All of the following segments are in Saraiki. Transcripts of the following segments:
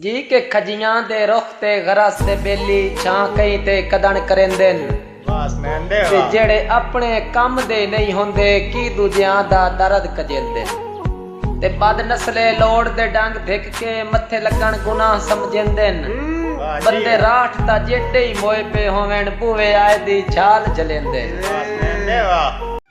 جی کہ کھجیاں دے رخ تے غرس دے ٻیلی چھاں کئیں تے کدݨ کریندن تے جیڑھے اپݨے کم دے نئیں ہوندے کی ݙوجھیاں دا درد کجیندن تے بد نسلے لوڑ دے ݙنگ دھک کے متھے لڳݨ گناہ سمجھیندن بندے راٹھ تاں جیݙے ای موئے پئے ہوون ٻوہے آئے دی جھال جھلیندن۔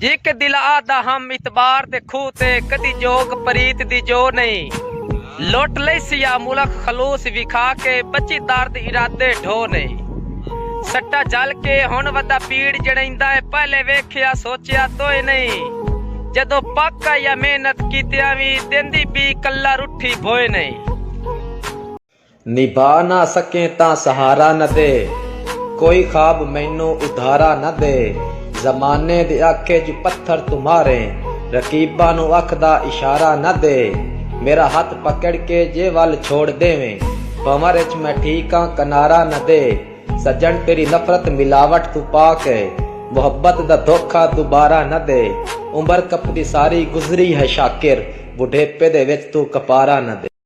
جیکے دل آہدا ہم اعتبار دے کھوہ تے کدی جوگ پریت دی جو نئیں لٹ لئیسی یا ملک خلوص وکھا کے بچی درد ارادے ڈھو نئیں سٹا جھل کے ہن ودا پیڑ جڑئیندا اے پہلے ویکھیا سوچیا توئے نئیں جدو پک آ یا محنت کیتیاں وی دیندی بی کلا رٹھی بھوئے نئیں۔ نبھا نہ سکیں تاں سہارا نہ دے کوئی خواب مینوں ادھارا نہ دے زمانے دی اکھ اچ پتھر توں ماریں رقیباں نوں اکھ دا اشارہ نہ دے میرا ہتھ پکڑ کے جے ول چھوڑ ڈیویں بھنور اچ میں ٹھیک آں کنارہ نہ دے سجن تیری نفرت ملاوٹ توں پاک اے محبت دا دھوکا دوبارہ نہ دے عمر کپدی ساری گزری ہے شاکر بڈھیپے دے وچ توں کپارہ نہ دے۔